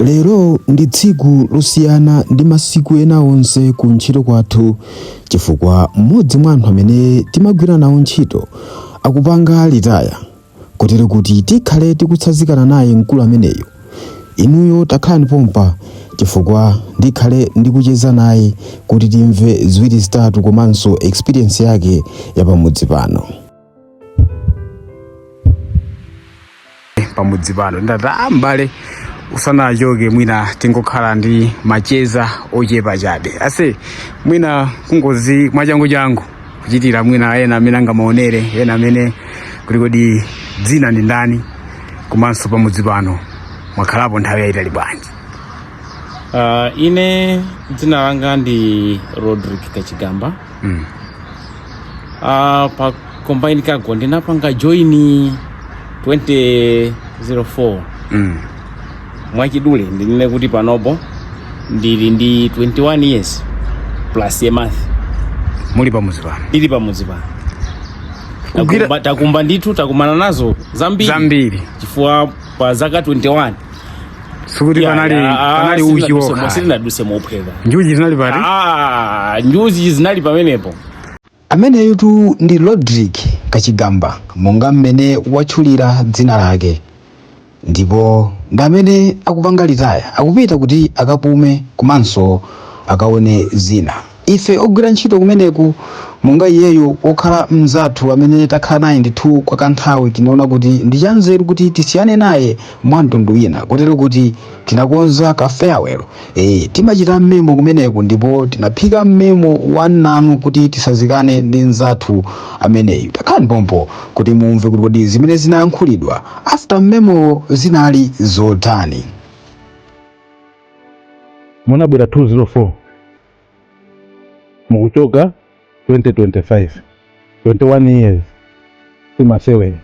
Lero ndi tsiku losiyana ndi masiku ena onse ku ntchito kwathu chifukwa mmodzi mwa anthu amene timagwira nawo ntchito akupanga litaya kotero kuti tikhale tikutsazikana naye mkulu ameneyu. Inuyo takhalani pompo chifukwa ndikhale ndikucheza naye kuti timve ziwiri zitatu komanso experience yake ya pamudzi pano. pamudzi pano ndinati m'bale usanachoke mwina tingokhala ndi macheza ochepa chabe ase mwina kungozi mwachanguchangu kuchitira mwina ena amene angamaonere ena amene kuti kodi dzina ndi ndani komanso pamudzi pano mwakhalapo nthawi yayitali bwanji Uh, ine dzina langa ndi rodrick kachigamba mm. uh, pa combine cargo ndinapanga join 2004 mm. mwachidule ndinene kuti panopo ndili ndi 21 years plus a month muli pamudzi pano ili pamudzi pano Kugwira- takumana, takumana ndithu takumana nazo zambiri zambiri chifukwa pa zaka 21 sikuti panali panali uchi wokha sitinaduse mophweka njuchi zinalipo ah njuchi zinali pamenepo ameneyutu ndi rodrick kachigamba monga mmene watchulira dzina lake ndipo ndi amene akupanga litaya akupita kuti akapume komanso akaone zina Ife ogwira ntchito kumeneku, monga iyeyu pokhala mnzathu amene takhala naye ndithu kwa kanthawi, tinaona kuti ndi chanzeru kuti tisiyane naye mwa mtundu wina kotero kuti tinakonza ka farewell. Eeh, timachita mmemo kumeneku ndipo tinaphika mmemo wa nnanu kuti titsazikane ndi mnzathu ameneyu. Takhalani pompo kuti mumve kuti kodi zimene zinayankhulidwa after mmemowo zinali zotani. munabwera 2004 mukuchoka 2025 21 years simasewera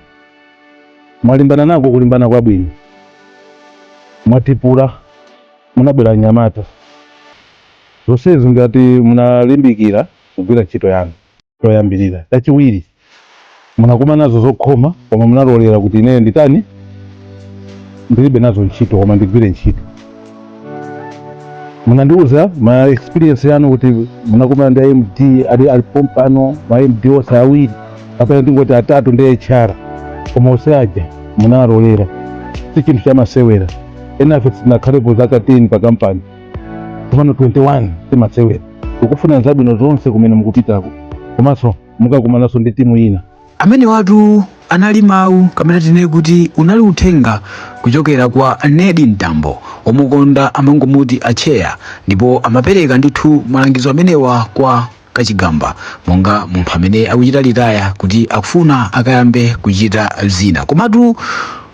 mwalimbana nako kulimbana kwabwino mwaitpula munabwera nyamata zonsezi ngati munalimbikira kugwira ntchito yanu choyambirira chachiwiri Munakumana nazo zokhoma koma munalolera kuti ineyo nditani ndilibe nazo ntchito koma ndigwire ntchito. Munandiuza ma experience anu kuti munakumana ndi a MD ali ali pompano ma MD onse awiri kapena tingoti atatu ndi HR koma onse aja munalolera si chinthu chamasewera enafe sinakhalepo zaka 10 pa kampani komano 21 simasewera tikufunirani zabwino zonse kumene mukupitako komanso mukakumananso ndi timu ina amenewatu anali mawu kapena tinene kuti unali uthenga kuchokera kwa nedi mtambo omukonda amangomuti acheya ndipo amapereka ndithu malangizo amenewa kwa kachigamba monga munthu amene akuchita retire kuti akufuna akayambe kuchita zina komatu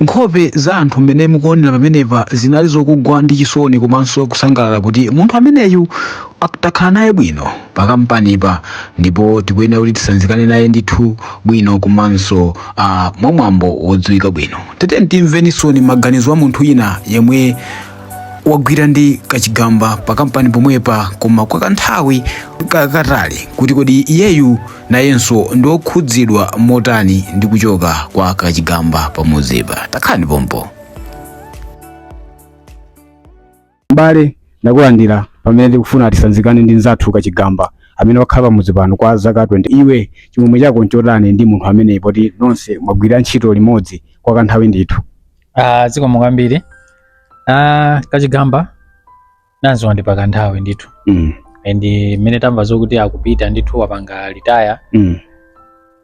nkhope za anthu mmene mukuonera pamenepa zinali zokugwa ndi chisoni komanso kusangalala kuti munthu ameneyu takhala naye bwino pa kampanipa ndipo tikuyenera kuti tisanzikane naye ndithu bwino komanso ah, mwamwambo wodziwika bwino tiyeni timvenso maganizo a munthu wina yemwe wagwira ndi kachigamba pa kampani pomwepa koma kwa kanthawi kotalika kuti kodi iyeyu nayenso ndi okhudzidwa motani ndi kuchoka kwa kachigamba pamudzipa takhalani pompo M'bale, ndakulandira pamene tikufuna tisanzikane ndi mnzathu Kachigamba amene wakhala pamudzi pano kwa zaka 20. Iwe chimwemwe chako nchotani ndi munthu ameneyi poti nonse mwagwira ntchito limodzi kwa kanthawi ndithu? Ah, zikomo kwambiri. Ah, Kachigamba tamdziwa ndi pa kanthawi ndithu. Mm. And mmene tamva zokuti akupita ndithu wapanga retire Mm.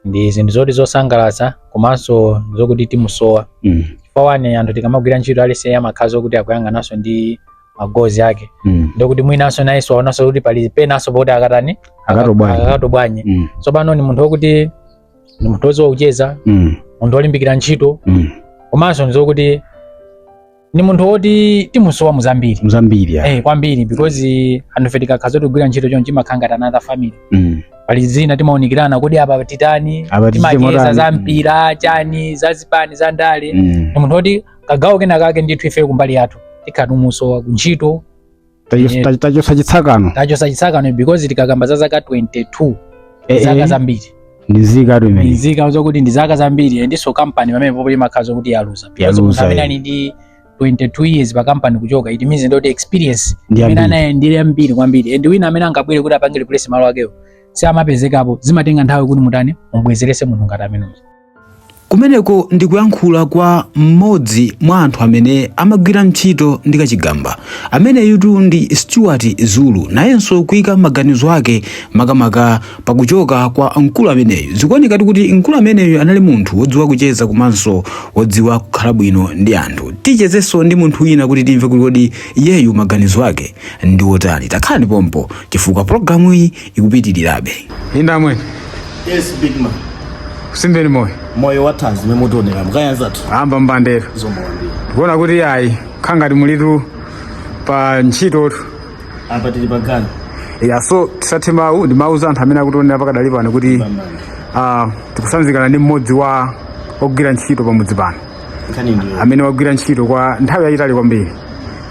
ndi zinthu zoti zosangalatsa komanso zokuti timusowa Mm. chifukwa one anthu tikamagwira ntchito aliyense amakhala zokuti akuyang'ananso ndi ma goals ake Mm. ndokuti mwinanso nayenso aonanso kuti pali penanso poti akatani Akatobwanye. akatobwanye Mm. tsopano ni munthu wokuti ni munthu woziwa kucheza Mm. munthu wolimbikira ntchito Mm. komanso ndizokuti ni munthu woti timusowa muzambiri muzambiri eh, kwambiri because anthu fe tikakhala zotigwira ntchito chonchi timakhala ngati another family mm. pali zina timaonekerana kodi apa titani timacheza za mpira chani za zipani za ndale mm. ni munthu woti kagawo kena kake ndithu ife kumbali yathu tikhala timusowa kuntchito Tacho- ta- tachosa chitsakano tachosa chitsakano because tikakamba za zaka 22 Eh, zaka eh. zambiri ndi nzikatu imeneyi nzika zokuti ndi zaka zambiri and so kampani pamenepopo imakhala zokuti yaluza because Yaluza, munthu amene eh. ali ndi 22 years pa kampani kuchoka it means ndoti experience Ndi amene yambiri. anayo ndi yambiri kwambiri and wina amene angabwere kuti apange replace malo akewo si amapezekapo zimatenga nthawi kuti mutani mubwezerese munthu ngati ameneyo Kumeneko ndi kuyankhula kwa mmodzi mwa anthu amene amagwira ntchito ndi Kachigamba. Ameneyutu ndi Stuart Zulu, nayenso kuika maganizo ake makamaka pakuchoka kwa mkulu ameneyu. Zikuonekatu kuti mkulu ameneyu anali munthu wodziwa kucheza komanso wodziwa kukhala bwino ndi anthu. Tichezenso ndi munthu wina kuti timve kuti kodi iyeyu maganizo ake ndi otani. Takhalani pompo chifukwa pologalamuyi ikupitirirabe. Inde amwene. Yes, big man. Simbeni moyo. Moyo wa thanzi momwe mutionera mu kaya anzathu. A mbambande. Zikomo kwambiri. Kuona kuti ayi khala ngati mulitu pa ntchito tu. Apa tili pa ganyu. Ya so tisathe mawu ndimauza anthu amene akutionera pakadali pano kuti ah, tikusanzikana ndi mmodzi wa ogwira ntchito pamudzi pano Nkhani ndiyo. amene wagwira ntchito kwa nthawi yayitali kwambiri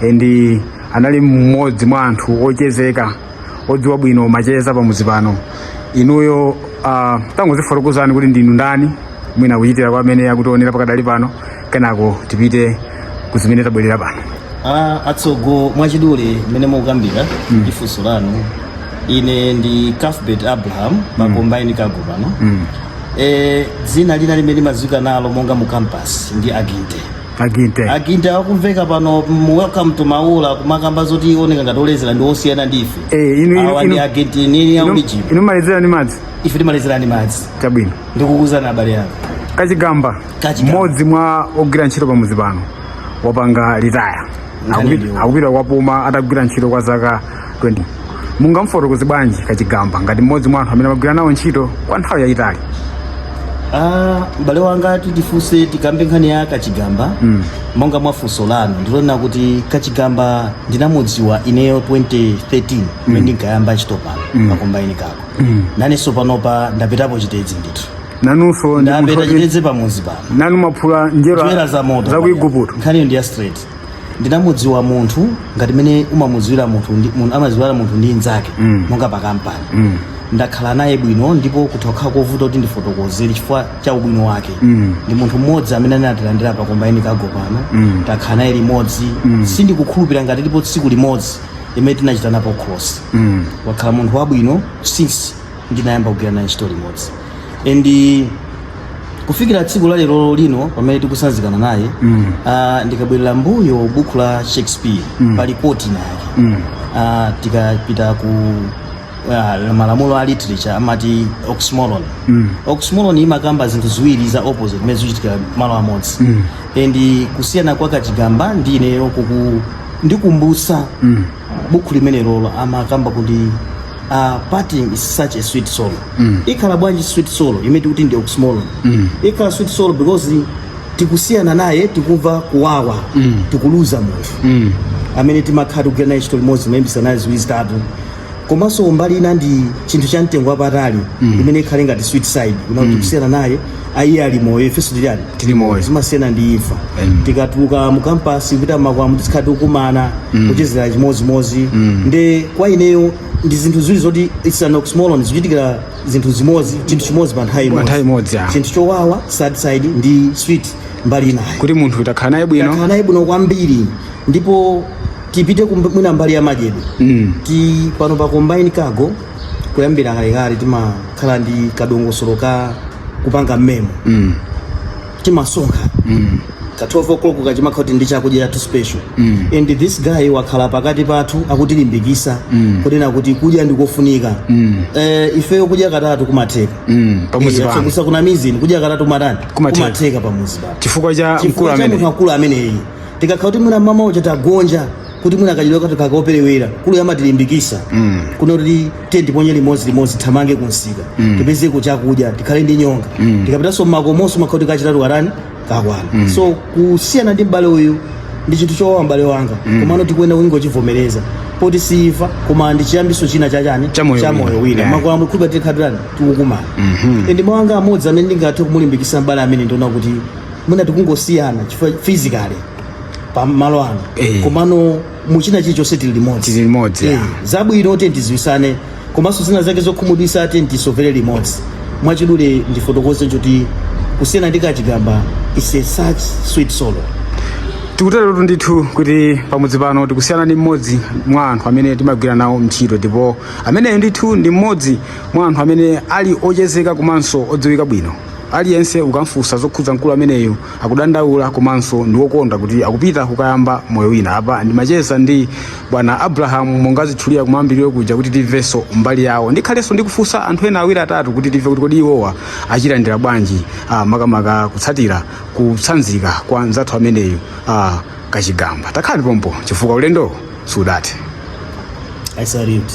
e, ndi anali mmodzi mwa anthu ochezeka odziwa bwino macheza pamudzi pano inuyo uh, tangozifotokozani kuti ndinu ndani mwina kuchitira kwa amene akutionera pakadali pano kenako tipite kuzimene tabwerera pano Ah, atsogo mwachidule mmene mukukambira mm. funso lanu ine ndi Cuthbert abraham pa mm. combine cargo pano mm. e, dzina lina limene limadziwika nalo monga mu campus ndi aginte aginte aginte akumveka pano mu welcome to maula kumakamba zoti oneka ngati olezera ndi osiyana ndi ife Eh, inu- inu- awa ndi inu- agenti nini ya ulijibu inu mumalezera ni madzi ife timalezera ndi madzi chabwino ndikukuzana abale ya kachigamba Kachigamba. mmodzi mwa ogwira ntchito pamuzi pano wapanga retire Nkhani Akupi- ndiyo. akupita kukapuma atagwira ntchito kwa zaka 20 mungamfotokoze bwanji kachigamba ngati mmodzi mwa anthu amene mwagwira nawo ntchito kwa nthawi yayitali Ah, m'bale wanga titifunse tikambe nkhani ya kachigamba Mm. monga mwa funso lanu nditonena kuti kachigamba ndinamudziwa ineyo 2013 mmene ndinkayamba ntchito pano mm. pa combine cargo mm. nanenso panopa ndapitapo chitedzi ndithu nanunso ndi munthu ndapita oti- chitedzi pamuzi pano nanu mwaphula njerwa njerwa za moto za ku igupto nkhaniyo ndi ya straight ndinamudziwa munthu ngati mene umamudziwira munthu ndi munthu amadziwira munthu ndi nzake mm. monga pa kampani mm. ndakhala naye bwino ndipo kutha kukhala kovuta kuti ndifotokozere chifukwa cha ubwino wake mm. ndi munthu mmodzi amene anatilandira pa combine cargo pano mm. takhala naye limodzi mm. sindikukhulupira ngati lipo tsiku limodzi limene tinachitanapo cross mm. wakhala munthu wabwino since ndinayamba kugwira naye ntchito limodzi and kufikira tsiku la lero lino pamene tikusanzikana naye mm. uh, ndikabwerera mbuyo buku la shakespeare mm. pali point inayake mm. uh, tikapita ku uh, malamulo a literature amati oxymoron mm. oxymoron imakamba zinthu ziwiri za opposite zimene zikuchitika malo amodzi mm. and kusiyana kwa kachigamba ndi ineyo kukundikumbutsa mm. uh, buku limenelolo amakamba kuti uh, parting is such a sweet sorrow mm. ikhala bwanji sweet sorrow imene tikuti ndi oxymoron mm. ikhala sweet sorrow because tikusiyana naye tikumva kuwawa mm. tikuluza munthu mm. amene timakhala tikugwira naye ntchito limodzi mayembisa naye ziwiri zitatu komanso mbali ina ndi chinthu cha mtengo wapatali mm. imene ikhale ngati sweet side kunena kuti mm. kusiyana naye iye ali moyo ifenso tiliani Tili moyo. zimasiyana ndi imfa Mm. tikatuluka mu kampasi kupita makwamu tisikhala tikukumana kuchezera chimodzimodzi nde kwa ineyo ndi zinthu ziwiri zoti it's an oxymoron zochitikira zinthu zimodzi chinthu chimodzi pa nthawi Pa nthawi imodzi, ah. chinthu chowawa sad side ndi sweet mbali inayo kuti munthu utakhala naye takhala bwino naye bwino kwambiri ndipo tipite kumb- mwina mbali ya madyedwe Mm. ti pano pa combine cargo kuyambira kalekale timakhala ndi kadongosolo ka kupanga m'memo mm. timasonkha mm. ka 12 o'clock chimakhala kuti ndi chakudya chathu special mm. and this guy wakhala pakati pathu akutilimbikisa mm. kunena kuti kudya ndikofunika mm. eh, ifeyo kudya katatu kumatheka mm. pamuzi eh, pano sakunamizini kudya katatu kumatani Kumatheka. kumatheka pamuzi pano chifukwa cha mkulu chifukwa cha amene munthu akulu ameneyi tikakhala kuti mwina mama uja tagonja kuti mwina kachikwama kathu kakuperewera mkuluyu amatilimbikitsa mm. kunena kuti tiye tiponye limodzi limodzi tithamange kunsika mm. tipezeko chakudya tikhale ndi nyonga mm. tikapitanso mmakomonso timakhala kuti kachitatu katani kakwana mm. so kusiyana ndi m'bale uyu ndi chinthu chowawa m'bale wanga mm. komano tikuyenera kungochivomereza poti si imfa koma ndi chiyambiso china chachani Cha moyo wina. moyo wina Yeah. makwamu kuja tikhala tikutani tikukumana mm -hmm. ndi mawu anga amodzi amene ndingathe kumulimbikisa m'bale ameneyi ndi onena kuti mwina tikungosiyana chifukwa physically pa malo ano Eh. komano muchina chilichonse tili limodzi Tili limodzi, Eh, ah. zabwino tiyeni tidziwitsane komanso zina zake zokhumudwitsa tiyeni tisovere limodzi mwachidule ndifotokoze choti kusiyana ndi Kachigamba is such a sweet sorrow tikuteretu ndithu kuti pamudzi pano tikusiyana ndi mmodzi mwa anthu amene timagwira nawo ntchito ndipo ameneyo ndithu ndi mmodzi mwa anthu amene ali ochezeka komanso odziwika bwino Aliyense ukamfunsa zokhudza mkulu ameneyu akudandaula komanso ndi wokondwa kuti akupita kukayamba moyo wina. Apa ndimacheza ndi bwana Abraham monga ndinatchulira kumayambiriro kuja kuti timvenso mbali yawo. Ndikhalenso ndikufunsa anthu ena awiri atatu kuti timve kuti kodi iwowa achilandira bwanji ah, makamaka kutsatira kutsanzika kwa mnzathu ameneyu ah, Kachigamba. Takhalani pompo chifukwa ulendo siudathe. I salute.